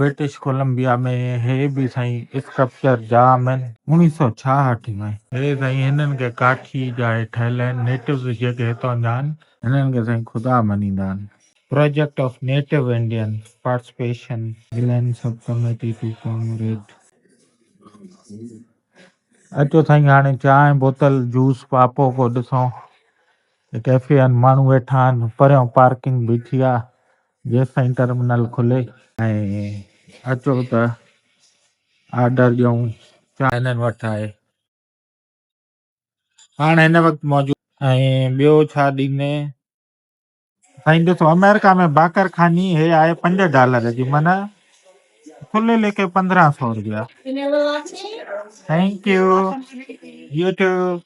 British Columbia ۾ هي به سائين اسڪلپچر جا مين. اڻيهه سؤ ڇاهٺ ۾. هي سائين هنن کي ڪاٺي جا هي ٺهيل آهن نيٽوز جيڪي هتان جا آهن. هنن کي سائين خدا مڃيندا آهن. Project of native Indian participation. گلين سب ڪميٽي ٽو ڪامريڊ. اچو سائين هاڻي چانهه بوتل جوس پاپو ڪو ڏسون. ڪيفي آهن ماڻهو ويٺا آهن پريون پارڪنگ بيٺي آهي جيستائين ٽرمينل کلي ۽ اچو ته آرڊر ڏيون چانهه هنن وٽ آهي هاڻ هن وقت موجود ۽ ٻيو ڇا ڏيندين سائين ڏسو آمريڪا ۾ باقر خاني هي آهي پنج ڊالر جي معنيٰ کلي ليکي پندرهن سو روپيا ٿينڪ يو يوٽيوب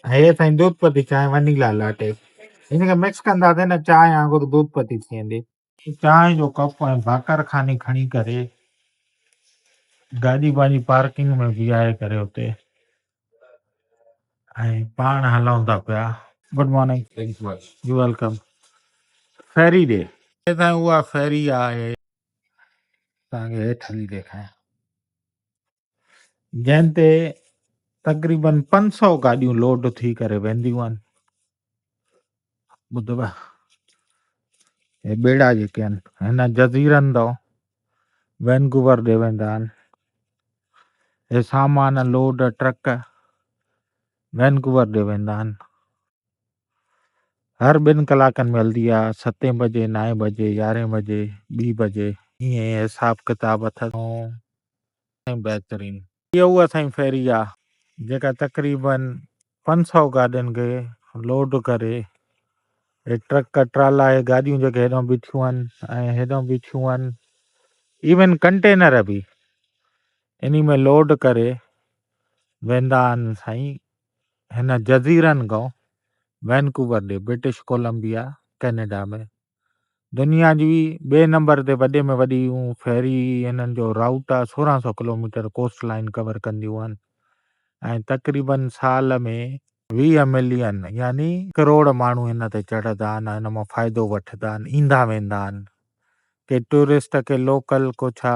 هي سائين دودھ پتي چانهه ونيلا لاٽي ان کي مڪس ڪنداسين نه چانهه وانگر دودھ پتي ٿي ويندي چانهه جو ڪپ ۽ ڀاڪر خاني کڻي ڪري گاڏي پنهنجي پارڪنگ ۾ بيهاري ڪري اتي ۽ پاڻ هلون ٿا پيا good morning thank you welcome ferry ڏي سائين اها فيري آهي توهان کي هيٺ هڻي ڏيکاريان جنهن تي تقريبن پنج سؤ گاڏيون لوڊ ٿي ڪري وينديون آهن ٻڌبا هي ٻيڙا جيڪي آهن هن جزيرن تان وينگوور ڏي ويندا آهن هي سامان لوڊ ٽرڪ وينگوور ڏي ويندا آهن هر ٻن ڪلاڪن ۾ هلندي آهي، ستين بجي، نائين بجي، يارهين بجي، ٻي بجي. ائين حساب ڪتاب اٿس. ها سائين بهترين. هيء اها سائين فيري آهي جيڪا تقريباً پنج سؤ گاڏين کي لوڊ ڪري هي ٽرڪ ٽرالا هي گاڏيون جيڪي هيڏانهن بيٺيون آهن ۽ هيڏانهن بيٺيون آهن ايون ڪنٽينر به انهي ۾ لوڊ ڪري ويندا آهن سائين هن جزيرن گو، وينڪوور ڏي، برٽش ڪولمبيا، ڪينيڊا ۾، دنيا جي ٻئي نمبر تي وڏي ۾ وڏيون فيري هنن جو رائوٽ آهي، سورهن سؤ ڪلوميٽر ڪوسٽ لائين ڪور ڪنديون آهن ۽ تقريباً سال ۾ ويهه ملين يعني ڪروڙ ماڻهو هن تي چڙهدا آهن ۽ هن مان فائدو وٺدا آهن، ايندا ويندا آهن، ڪي ٽوئرسٽ ڪي لوڪل ڪو ڇا.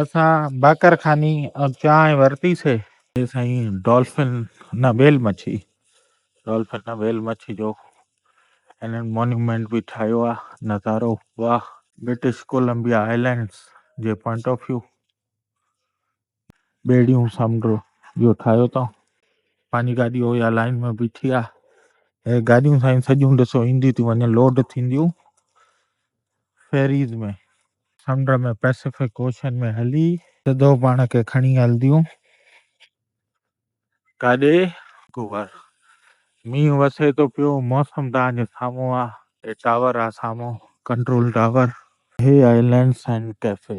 اسان باقر خاني ۽ چانهه ورتي سي. اي سائين ڊولفن نه ويل مڇي ڊولفن نه ويل مڇي جو انهن مونيومينٽ به ٺاهيو آ نظارو واه. برٽش ڪولمبيا آئلينڊس جي پوائنٽ آف ويو. ٻيڙيون سمنڊ جو ٺاهيو اٿئون. پنهنجي گاڏي هو يا لائين ۾ بيٺي آ. هي گاڏيون سائين سڄيون ڏسو اينديون ٿيون وڃن لوڊ ٿينديون فيريز ۾. سمنڊ ۾ پئسفڪ اوشن ۾ هلي. سڌو پاڻ کي کڻي هلنديون. ڪاڏي گوهر مينهن وسي ٿو پيو موسم تانجو سامهون آ. هي ٽاور آ سامهون ڪنٽرول ٽاور. هي آهي لينڊ سائن ڪيفي.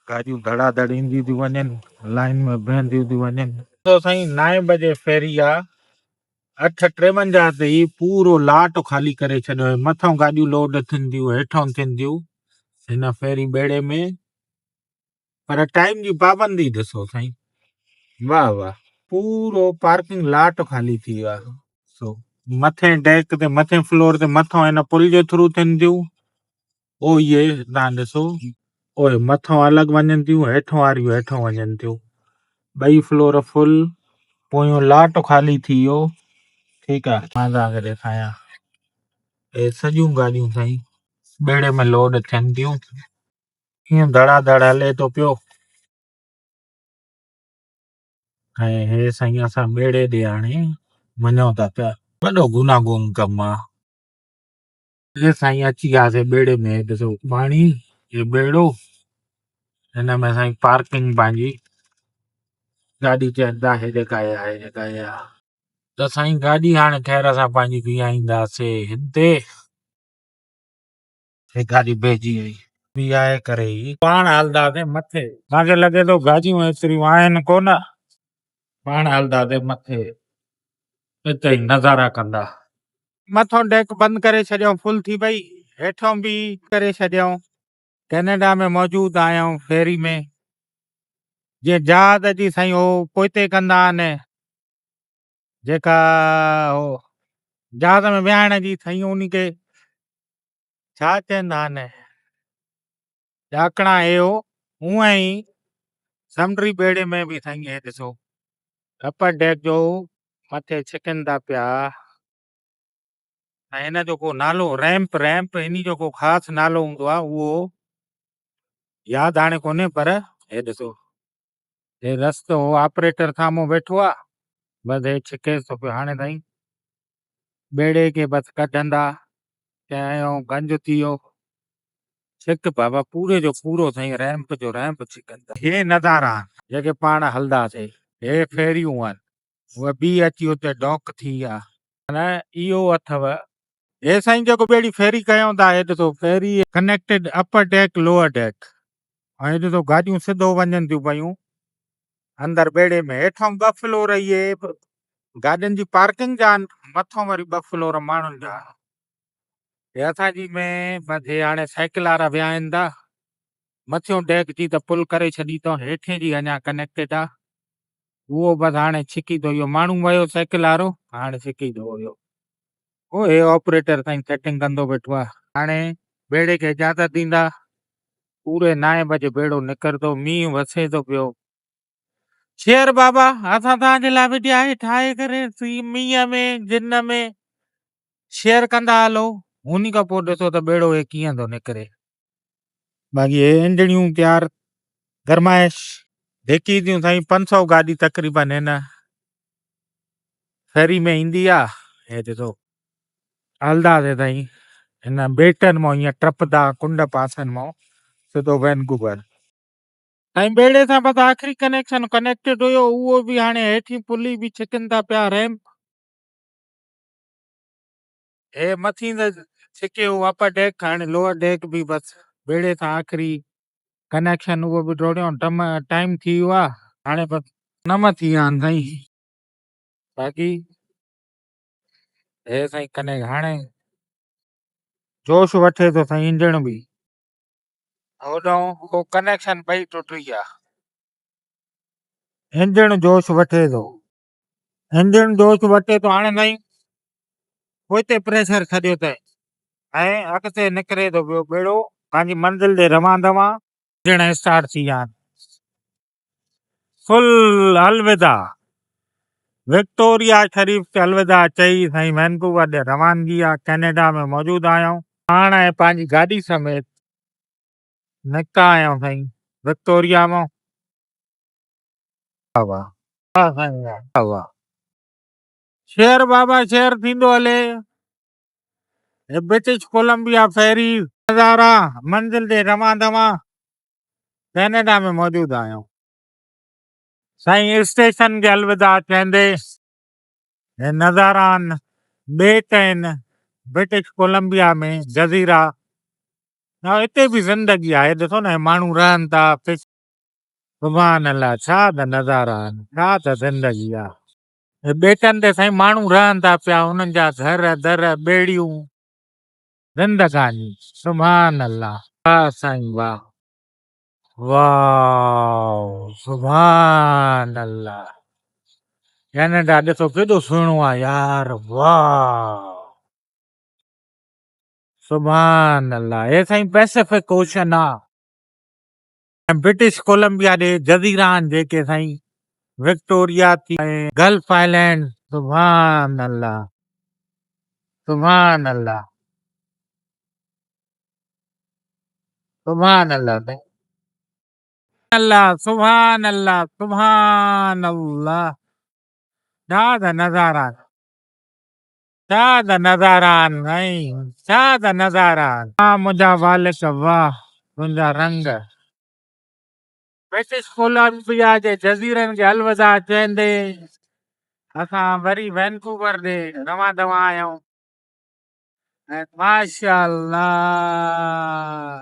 گاڏيون ڌڙا ڌڙ اينديون ٿيون وڃن لائين ۾ بيهنديون ٿيون وڃن. ڏسو سائين نائين بجي فيري آ اٺ ٽيونجاهه تي ئي پورو لاٽ خالي ڪري ڇڏيو هي مٿئون گاڏيون لوڊ ٿينديون هيٺئون ٿينديون هن فيري ٻيڙي ۾. پر ٽائيم جي پابندي ڏسو سائين واه واه پورو پارڪنگ لاٽ خالي ٿي ويو آهي سو مٿين ڊيڪ تي مٿين فلور تي مٿو هن پل جي ٿرو ٿين ٿيون او اهي تان ڏسو او مٿو الڳ وڃن ٿيون هيٺ واريون هيٺ وڃن ٿيون ٻئي فلور فل پويون لاٽ خالي ٿي ويو ٺيڪ آ مان تان کي ڏيکايان اي سڄيون گاڏيون سائين ٻيڙي ۾ لوڊ ٿين ٿيون ائين ڌڙا ڌڙ هلي ٿو پيو ۽ هي سائين اسان ٻيڙي ڏي هاڻي وڃون ٿا پيا وڏو گناهگون ڪم آ هي سائين اچي وياسي ٻيڙي ۾ ڏسو پاڻي هي ٻيڙو هن ۾ سائين پارڪنگ پنهنجي گاڏي چئن ٿا هيڏي ڪاهي آ هيڏي ڪاهي آ ته سائين گاڏي هاڻي خير سان پنهنجي بيهائينداسي هتي هي گاڏي بيهجي وئي. بيهائي ڪري ئي پاڻ هلنداسين مٿي. اسان کي لڳي ٿو گاڏيون ايتريون آهن ڪونه. پاڻ هلنداسين مٿي. اتي ئي نظارا ڪندا. مٿئون ڊيڪ بند ڪري ڇڏيائون فل ٿي پئي. هيٺئون به ڪري ڇڏيائون. ڪينيڊا ۾ موجود آهيون فيري ۾. جيئن جهاز جي سائين هو پوئتي ڪندا آهن. جيڪا هو جهاز ۾ ويهائڻ جي سائين انهي کي ڇا چوندا آهن ڏاڪڻا اهو اونء ئي سمنڊي ٻيڙي ۾ به سائين هي ڏسو اپر ڊيڪ جو مٿي ڇڪن ٿا پيا ۽ هن جو ڪو نالو ريمپ ريمپ انهي جو ڪو خاص نالو هوندو آهي اهو ياد هاڻي ڪونهي پر هي ڏسو هي رستو هو آپريٽر سامهون ويٺو آ بس هي ڇڪيس ٿو پيو هاڻي سائين ٻيڙي کي بس ڪڍندا چيائين گنج ٿي ويو ڇڪ بابا پوري جو پورو سائين ريمپ جو ريمپ ڇڪندا هي نظارا جيڪي پاڻ هلنداسي هي فيريون آهن هوء بيهي اچي اتي ڊوڪ ٿي آ. نه اهو اٿئو. هي سائين جيڪو ٻيڙي فيري ڪيائون ٿا هي ڏسو ferry. Connected upper deck lower deck ۽ هي ڏسو گاڏيون سڌو وڃن ٿيون پيون اندر ٻيڙي ۾ هيٺئون ٻه فلور اهي گاڏين جي پارڪنگ جا آهن مٿئون وري ٻه فلور ماڻهن جا آهن هي اسان جي ۾ بس هي هاڻي سائيڪل وارا ويا آهن ته مٿيون ڊيڪ جي ته پل ڪري ڇڏي اٿئون هيٺين جي اڃا ڪنيڪٽيڊ آ اهو بس هاڻي ڇڪي ٿو اهو ماڻهو ويو سائيڪل وارو هاڻي ڇڪي ٿو اهو او هي آپريٽر سائين سيٽنگ ڪندو ويٺو آ هاڻي بيڙي کي اجازت ڏيندا پوري نائين بجي بيڙو نڪرندو مينهن وسي ٿو پيو شير بابا اسان توهان جي لاء وڊيا هي ٺاهي ڪري سي مينهن ۾ جن ۾ شير ڪندا هلو هوني کان پوء ڏسو ته بيڙو هي ڪيئن ٿو نڪري باقي هي انڊڙيون پيار گرمائش ڌيڪي ٿيون سائين پنج سؤ گاڏي تقريبن هن شهري ۾ ايندي آ هي ڏسو هلدا سي سائين هن بيٽن مون هيئن ٽپدا ڪنڊ پاسن مون سڌو وينڪوور سائين ٻيڙي سان بس آخري ڪنيڪشن ڪنيڪٽيڊ هيو اهو به هاڻي هيٺين پلي به ڇڪن ٿا پيا ريمپ هي مٿين ته سکيو اپر ڊيڪ هاڻي لوئر ڊيڪ به بس بيڙي سان آخري ڪنيڪشن اهو به ڊوڙيو ٽم ٽائيم ٿي ويو آهي هاڻي بس نم ٿي ويا آهن سائين باقي هي سائين ڪنيڪ هاڻي جوش وٺي ٿو سائين انجڻ به هوڏانهن هو ڪنيڪشن ٻئي ٽٽي ويا انجڻ جوش وٺي ٿو انجڻ جوش وٽي تون آڻيندائين، پوئتي پريشر ڇڏيو ته ۽ اڳتي نڪري ٿو پيو ٻيڙو، پنهنجي منزل ڏي روان دوان. انجڻ اسٽارٽ ٿي ويا آهن. فل الوداع. وڪٽوريا شريف کي الوداع چئي سائين وينڪوور ڏي روانگي آ، ڪينيڊا ۾ موجود آهيون. پاڻ ۽ پنهنجي گاڏي سميت نڪتا آهيون سائين وڪٽوريا مون. هوا. ها سائين ها. هوا. شهر بابا شهر ٿيندو هلي. هي برٽش ڪولمبيا فيري. نظارا منزل ڏي رواں دواں. ڪئناڊا ۾ موجود آهيون. سائين اسٽيشن کي الوداع چئندي هي نظاران ٻيٽ آهن برٽش ڪولمبيا ۾ جزيرا ته هتي به زندگي آهي ڏسو نه هي ماڻهو رهن ٿا. سبحان الله ڇا ته نظارا آهن ڇا ته زندگي آ. هي ٻيٽن تي سائين ماڻهو رهن ٿا پيا انهن جا گهر در ٻيڙيون زندگاني سبحان الله. واه سائين واه واؤ سبحان الله ڪينيڊا ڏسو ڪيڏو سهڻو آ يار واؤ سبحان الله هي سائين پئسفڪ اوشن آ. ۽ برٽش ڪولمبيا ڏي جزيرا آھن جيڪي سائين وڪٽوريا ٿي ۽ گلف آئلينڊز. سبحان الله سبحان الله سبحان الله سائين. الله سبحان الله سبحان الله ڏاڌا نظارا. ڇا ته نظارا آهن سائين ڇا ته نظارا آهن. واھ منهنجا والڪ واھ تنهنجا رنگ. برٽش ڪولمبيا جي جزيرن کي الوداع چئيندي اسان وري وينڪوور ڏي روان دوان آهيون ۽ ماشاء الله.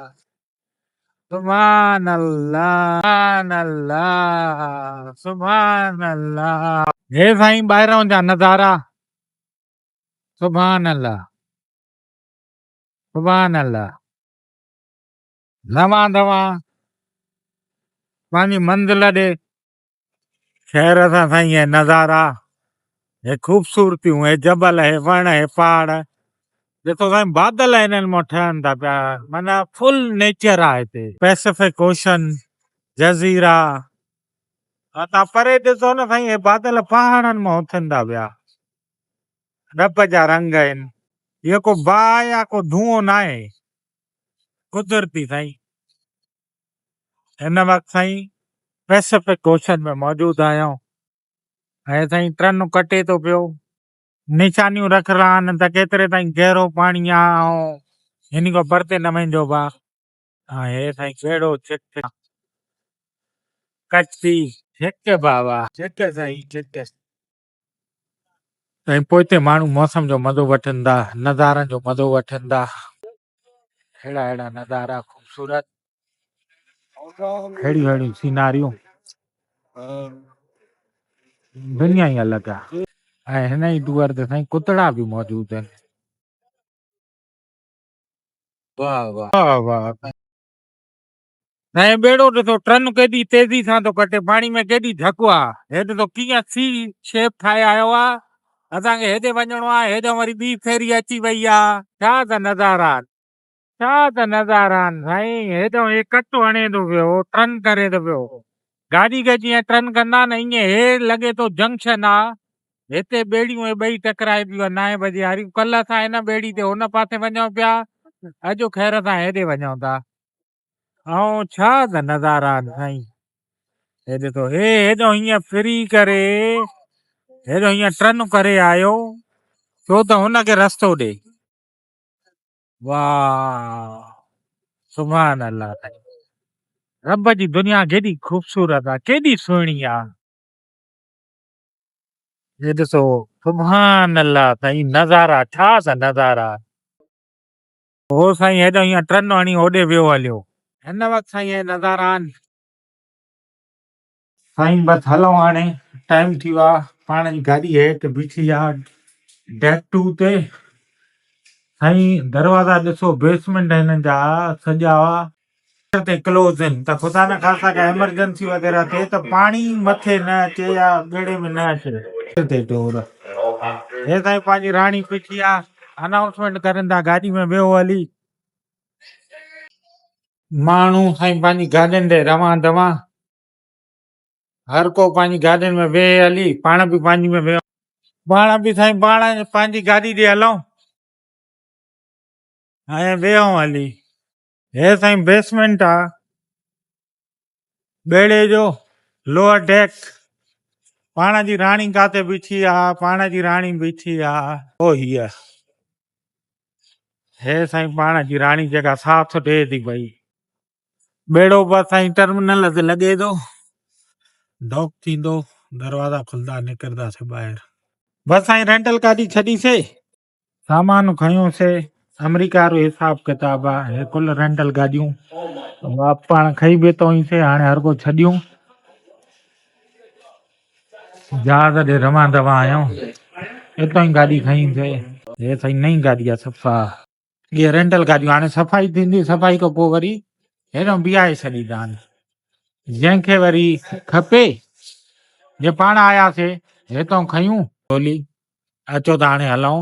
سبحان الله سبحان الله سبحان الله هي سائين ٻاهران جا نظارا سبحان الله سبحان الله نوان دوان پنهنجي منزل ڏي خير اسان سائين هي نظارا هي خوبصورتيون هي جبل هي وڻ هي پهاڙ ڏسو سائين بادل هنن مان ٺهن ٿا پيا معنيٰ فل نيچر آ هتي پئسفڪ اوشن جزيرا ها تان پري ڏسو نه سائين هي بادل پهاڙن مان اٿن ٿا پيا رب جا رنگ آهن هي ڪو باهه يا ڪو ڌونئون ناهي قدرتي سائين هن وقت سائين پئسفڪ اوشن ۾ موجود آهيان هي سائين ٽرنو ڪٽي ٿو پيو نشانيون رک رها آهن ته ڪيتري تائين گهرو پاڻي آ هن کان پرتي نه ويندو با هي سائين ڪهڙو چڪ ڪچي چڪ بابا چڪ سائين چڪ ۽ پوئتي ماڻهو موسم جو مزو وٺن ٿا نظارن جو مزو وٺن ٿا ههڙا ههڙا نظارا خوبصورت ههڙيون ههڙيون سيناريون دنيا ئي الڳ آهي ۽ هن ئي دؤر تي سائين ڪتڙا به موجود آهن واهه واهه واهه واهه سائين ٻيڙو ڏسو ٽرن ڪيڏي تيزي سان ٿو ڪٽي پاڻي ۾ ڪيڏي ڌڪ آ هي ڏسو ڪيئن سي شيپ ٺاهي آيو آ اسان کي هيڏي وڃڻو آ هيڏانهن وري ٻي فيري اچي وئي آ ڇا ته نظارا آن ڇا ته نظارا آن سائين هيڏانهن هي ڪٽ هڻي ٿو پيو ٽرن ڪري ٿو پيو گاڏي کي جيئن ٽرن ڪندا نه ائين هي لڳي ٿو جنڪشن آ هتي ٻيڙيون هي ٻئي ٽڪرائي ٿيون آن نائين بجي واريون ڪلهه اسان هن ٻيڙي تي هن پاسي وڃون پيا اڄ خير سان هيڏي وڃون ٿا آئون ڇا ته نظارا سائين هي ڏسو هي هيڏو هيئن ڦري ڪري هيڏو هيئن ٽرن ڪري آيو ڇو ته هن کي رستو ڏي واه سبحان الله سائين رب جي دنيا ڪيڏي خوبصورت آ ڪيڏي سهڻي آ هي ڏسو سبحان الله سائين نظارا ڇا ته نظارا هو سائين هيڏانهن يا ٽرن هڻي هوڏي ويو هليو. هن وقت سائين اهي نظاران. سائين بس هلون هاڻي ٽائيم ٿي ويو آ. پاڻ جي گاڏي هيٺ بيٺي آ ڊيڪ ٽو تي. سائين دروازا ڏسو بيسمينٽ هنن جا سڄا. ٽيسٽ تي ڪلوز هن ته خدا نه خاصا ڪا ايمرجنسي وغيره ٿئي ته پاڻي مٿي نه اچي يا ڳيڙي ۾ نه اچي ٽيسٽ تي ٽور هي سائين پنهنجي راڻي پڇي آ انائونسمينٽ ڪرين ٿا گاڏي ۾ ويهو هلي. ماڻهو سائين پنهنجي گاڏين ڏي روان دوان هر ڪو پنهنجي گاڏين ۾ ويهي هلي پاڻ به پنهنجي ۾ ويهون پاڻ به سائين پاڻ پنهنجي گاڏي ڏي هلون ۽ ويهون هلي هي سائين بيسمينٽ آ ٻيڙي جو لوئر ڊيڪ پاڻ جي راڻي ڪاتي بيٺي آ پاڻ جي راڻي بيٺي آ او هي هي سائين پاڻ جي راڻي جيڪا ساٿ ڏي ٿي پئي ٻيڙو بس سائين ٽرمينل تي لڳي ٿو ڊاڪ ٿيندو دروازا کلندا نڪرنداسي ٻاهر بس سائين رينٽل گاڏي ڇڏيسي سامان کنيوسي آمريڪا وارو حساب ڪتاب آ هي ڪل رينٽل گاڏيون واپ پاڻ کئي بيتا هئيسي هاڻي هر ڪو ڇڏيون جهاز ڏي روان دوا آيون اتو ئي گاڏي کئيسي هي سائي نئي گاڏي آ صفا هي رينٽل گاڏيون هاڻي صفائي ٿيندي صفائي کان پوء وري هيڏو بيهائي ڇڏيندا آهن جنهن کي وري کپي جي پاڻ آياسي هتو کيون ٽولي اچو ته هاڻي هلئون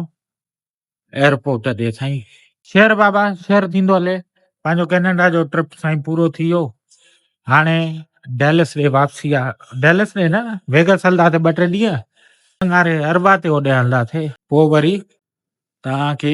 ايئرپورٽ تي سائين شير بابا شير ٿيندو هلي پنهنجو ڪينيڊا جو ٽرپ سائين پورو ٿي ويو هاڻي ڊيلس ڏي واپسي آ ڊيلس ڏي نه ويگس هلنداسي ٻه ٽي ڏينهن سنگاري اربا تي هوڏي هلنداسي پوء وري توهان کي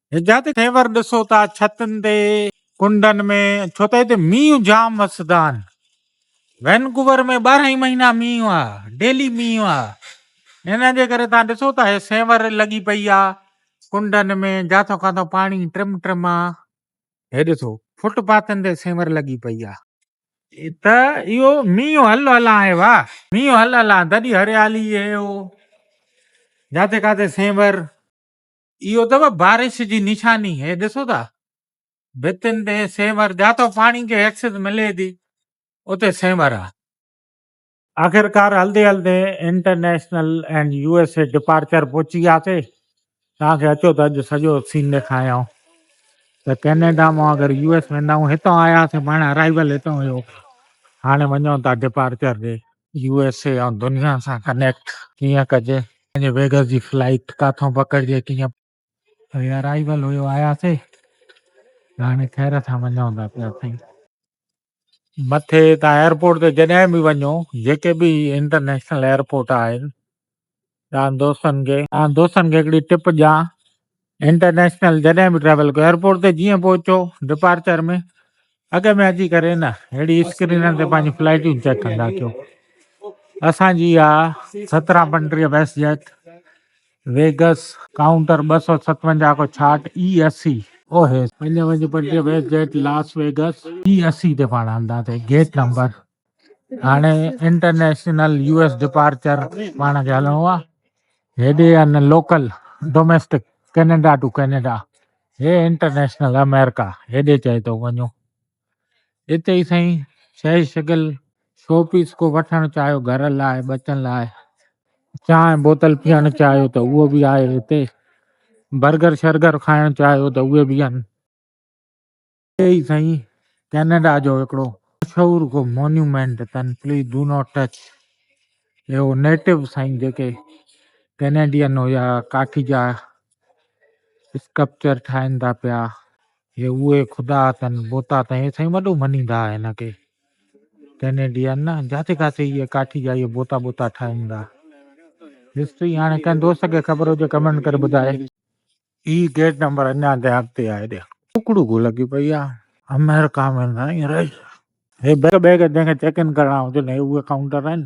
جتي خيبر ڏسو ٿا ڇتن تي ڪنڊن ۾ ڇو ته هتي مينهن جام وسدا آهن وينڪوور ۾ ٻارهن ئي مهينا مينهن آ ڊيلي مينهن آ ان جي ڪري تان ڏسو ٿا هي سينور لڳي پئي آ ڪنڊن ۾ جاٿو ڪاٿو پاڻي ٽرم ٽرم آ هي ڏسو فٽ پاٿن تي سينور لڳي پئي آ ته اهو مينهن هل هل آهي وا مينهن هل هل آ تڏي هريالي هي هو جاٿي ڪاٿي سينور اهو اٿو بارش جي نشاني هي ڏسو ٿا ڀتين تي سينور جاتو پاڻي کي ايڪسس ملي ٿي اتي سينور آ آخرڪار هلدي هلدي international and U S A departure پهچي وياسي توهان کي اچو ته اڄ سڄو سين ڏيکاريان ته ڪينيڊا مان اگر يو ايس ويندا آهيون هتان آياسي پاڻ ارائيول هتان هيو هاڻي وڃون ٿا ڊپارچر ڏي يو ايس اي ۽ دنيا سان ڪنيڪٽ ڪيئن ڪجي. پنهنجي ويگس جي فلائيٽ ڪاٿون پڪڙجي ڪيئن. هي ارائيول هيو آياسي هاڻي خير سان وڃون ٿا پيا سائين. مٿي تان ايئرپورٽ تي جڏهن به وڃو جيڪي به انٽرنيشنل ايئرپورٽ آهن تنهن دوستن کي. تنهن دوستن کي هڪڙي ٽپ ڏيان انٽرنيشنل جڏهن به ٽريول ڪيو ايئرپورٽ تي جيئن پهچو ڊپارچر ۾ اڳ ۾ اچي ڪري نه ههڙي اسڪرينن تي پنهنجون فلائيٽون چيڪ ڪندا ڪيو اسان جي اها سترهن پنٽريهه ويسٽ جيٽ ويگس ڪائونٽر ٻه سؤ ستونجاهه کان ڇاهٺ اي اسي اوهيس. پنجونجاهه پنٽريهه WestJet Las Vegas A اسي تي پاڻ هلنداسين گيٽ نمبر. هاڻي انٽرنيشنل يو ايس ڊپارچر پاڻ کي هلڻو آ هيڏي ان local domestic Canada to Canada هي انٽرنيشنل امريڪا هيڏي چئي تو وڃو اتي ئي سائين شي شگل شو پيس ڪو وٺڻ چاهيو گهر لاء بچن لاء چانهه بوتل پيئڻ چاهيو ته اهو به آهي هتي برگر شرگر کائڻ چاهيو ته اهي به آهن اتي ئي سائين ڪينيڊا جو هڪڙو مشهور ڪو مونيومينٽ اٿن پليز ڊو ناٽ ٽچ اهو نيٽو سائين جيڪي ڪينيڊين هيا ڪاٺي جا اسڪپچر ٺاهين ٿا پيا هي اهي خدا اٿن بوتا اٿن هي سائين وڏو مڃيندا هئا هن کي ڪينيڊين نه جاٿي ڪاٿي اهي ڪاٺي جا اهي بوتا بوتا ٺاهين ٿا هسٽري هاڻي ڪنهن دوست کي خبر هجي ڪمينٽ ڪري ٻڌائي هي گيٽ نمبر اڃا تائين اڳتي آهي ڏيک. ڪڪڙو گهو لڳي پئي آ. آمريڪا ۾ نه ائين رهي. هي بيگ بيگ جنهن کي چيڪ ان ڪرڻا هجن هي اهي ڪائونٽر آهن.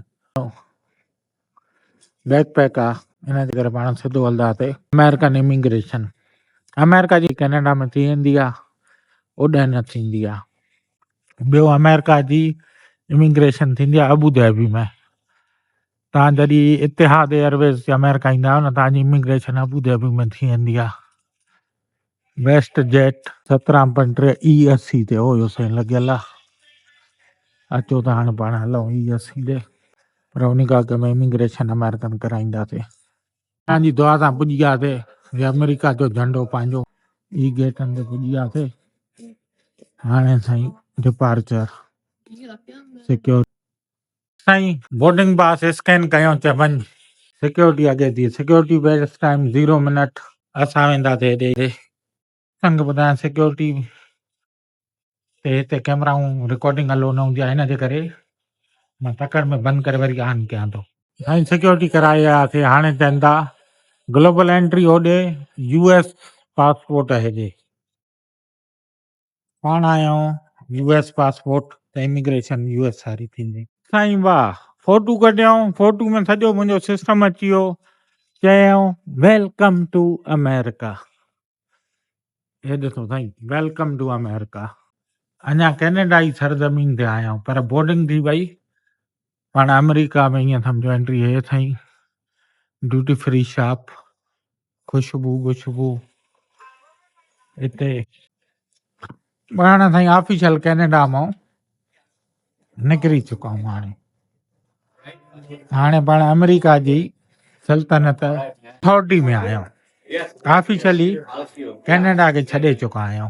بيڪ پيڪ آ ان جي ڪري پاڻ سڌو هلنداسي آمريڪن اميگريشن آمريڪا جي ڪينيڊا ۾ ٿي ويندي آ اوڏانهن نه ٿيندي آ ٻيو آمريڪا جي اميگريشن ٿيندي آ ابوظهبي ۾ توهان جڏهن اتحاد ايئرويز تي آمريڪا ايندا آهيو نه توهان جي اميگريشن ابوظهبي ۾ ٿي ويندي آهي ويسٽ جيٽ سترهن point T A S C تي هو اهو سائين لڳل آهي اچو ته هاڻي پاڻ هلون اي ايس سي ڏي پر ان کان اڳ ۾ اميگريشن آمريڪن ڪرائينداسي توهان جي دعا سان پڄي وياسي هي آمريڪا جو جهنڊو پنهنجو اي گيٽن تي پڄي وياسي هاڻي سائين ڊپارچر سيڪيور سائين بورڊنگ پاس اسڪين ڪيو ته وڃ. سيڪيورٽي اڳي ٿي security barriers time zero minute. اسان وينداسي هيڏي. سنگ ٻڌايان سيڪيورٽي تي هتي ڪيمرائون رڪارڊنگ الو نه هوندي آهي ان جي ڪري مان تڪڙ ۾ بند ڪري وري آن ڪيان ٿو. سائين سيڪيورٽي ڪرائي آياسي هاڻي چئن ٿا گلوبل انٽري هوڏي يو ايس پاسپورٽ هيڏي. پاڻ آيائون يو ايس پاسپورٽ ته اميگريشن يو ايس ساري ٿيندي. سائين واهه فوٽو ڪڍيائون فوٽو ۾ سڄو منهنجو سسٽم اچي ويو چيائون ويلڪم ٽو امريڪا هي ڏسو سائين ويلڪم ٽو امريڪا اڃا ڪينيڊا جي سرزمين تي آيائون پر بورڊنگ ٿي وئي پاڻ امريڪا ۾ ائين سمجهو انٽري هي سائين ڊيوٽي فري شاپ خوشبو گشبو اتي ٻاهر سائين آفيشل ڪينيڊا مان نڪري چڪا آهيون هاڻي هاڻي پاڻ آمريڪا جي سلطنت ٿرٽي ۾ آهيون آفيشلي ڪينيڊا کي ڇڏي چڪا آهيون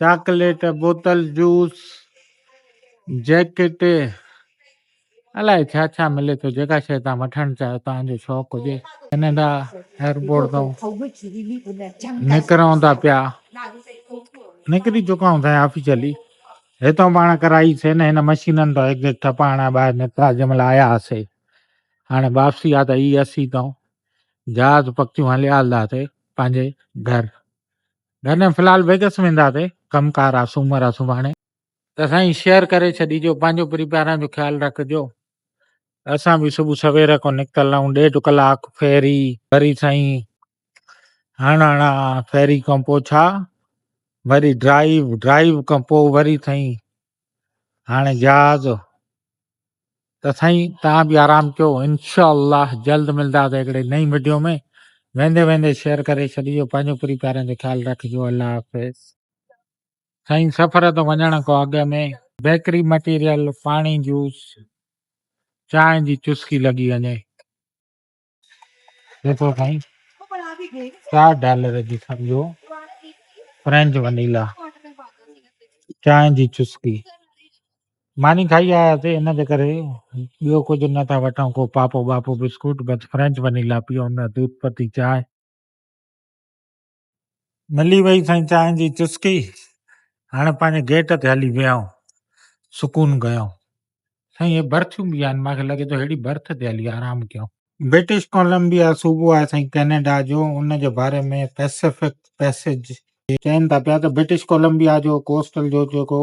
چاڪليٽ بوتل جوس جيڪٽ الائي ڇا ڇا ملي ٿو جيڪا شيء توهان وٺڻ چاهيو توهان جو شوق هجي ڪينيڊا ايئرپورٽ تون نڪرون ٿا پيا نڪري چڪا آهيون سائين آفيشلي هتان پاڻ ڪرائي سي نه هن مشينن تان هڪ هڪ ٺپا هڻيا ٻاهر نڪتا جنهن مهل آيا هاسي هاڻي واپسي آ ته هي اسي تون جهاز پکيون هليا هلنداسي پنهنجي گهر نه نه فلحال ويگس وينداسي ڪم ڪار آ سومر آ سڀاڻي ته سائين شيئر ڪري ڇڏيجو پنهنجو پريپاران جو خيال رکجو اسان به صبح سوير کو نڪتل آهون ڏيڍ ڪلاڪ فيري وري سائين هڻ هڻا فيري کان پوء ڇا وري ڊرائيو ڊرائيو کان پوء وري سائين هاڻي جهاز ته سائين توهان به آرام ڪيو انشاء الله جلد ملنداسي هڪڙي نئين وڊيو ۾ ويندي ويندي شيئر ڪري ڇڏيو پنهنجو پري پيارن جو خيال رکجو الله حافظ سائين سفر ته وڃڻ کان اڳ ۾ بيڪري مٽيريل پاڻي جوس چانهه جي چسڪي لڳي وڃي جيڪو سائين چار ڊالر جي سمجهو فرينچ ونيلا چانهه جي چسڪي ماني کائي آياسي ان جي ڪري ٻيو ڪجهه نه ٿا وٺون ڪو پاپو ٻاپو بسڪوٽ بس فرينچ ونيلا پيئون نه دودھ پتي چانهه ملي وئي سائين چانهه جي چسڪي، هاڻي پنهنجي گيٽ تي هلي ويهائون، سڪون ڪيائون. سائين اهي برٿيون به آهن، مان کي لڳي ٿو ههڙي برٿ تي هلي آرام ڪيائون. برٽش ڪولمبيا صوبو آهي سائين ڪئناڊا جو، ان جي باري ۾ پئسفڪ پئسيج. چين ٿا پيا ته برٽش ڪولمبيا جو ڪوسٽل جو جيڪو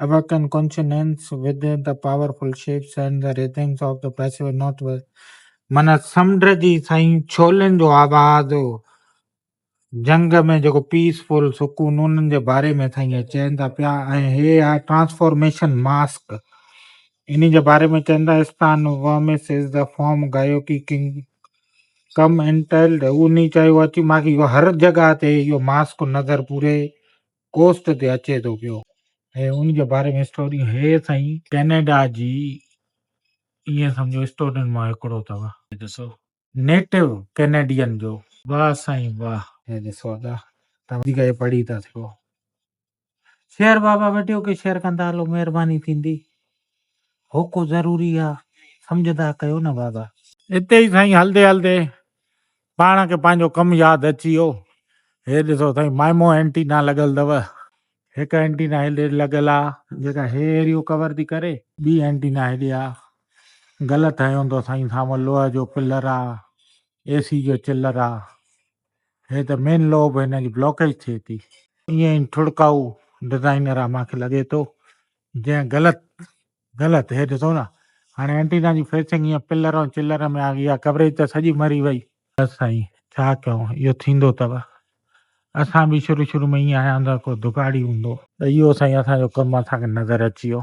About and consonants with the powerful shapes and the rhythms of the pacific northwest معنيٰ سمنڊ جي سائين ڇولين جو آواز جنگ ۾ جيڪو پيسفل سڪون انهن جي باري ۾ سائين چين ٿا پيا ۽ هي آهي ٽرانسفارميشن ماسڪ ان جي باري ۾ چين ٿا استان وامس از دا فارم گايو ڪي ڪنگ ڪم انٽيلڊ انهي چيو اچي ماکي اهو هر جڳهه تي اهو ماسڪ نظر پوري ڪوسٽ تي اچي ٿو پيو. ۽ ان جي باري ۾ اسٽوڊيون هي سائين ڪينيڊا جي ايئن سمجهو اسٽوڊين مان هڪڙو اٿو. هي ڏسو نيٽو ڪينيڊين جو. واه سائين واه. هي ڏسو ادا تان وڌيڪ هي پڙهي ٿا سگهو. شيئر بابا وڊيو کي شيئر ڪندا هلو مهرباني ٿيندي هوڪو ضروري آ سمجهندا ڪيو نه بابا. اتي ئي سائين هلدي هلدي پاڻ کي پنهنجو ڪم ياد اچي ويو. هي ڏسو سائين مائمو اينٽينا لڳل اٿو. هڪ اينٽينا هيڏي لڳل آ جيڪا هي ايريو ڪور ٿي ڪري. ٻي اينٽينا هيڏي آ. غلط هنيو اٿو سائين سامهون لوهه جو پلر آ. اي سي جو چلر آ. هي ته مين لوهه به هن جي بلاڪيج ٿئي ٿي. ائين ئي ٺڙڪائو ڊزائنر آ مانکي لڳي ٿو جنهن غلط غلط هي ڏسو نه هاڻي اينٽينا جي فيسنگ هيئن پلر ۽ چلر ۾ آ گئي اها ڪوريج ته سڄي مري وئي. بس سائين ڇا ڪيون اهو ٿيندو تب اسان به شروع شروع ۾ ائين آهيان ته ڪو دگاڙي هوندو. اهو سائين اسان جو ڪم اسان کي نظر اچي ويو.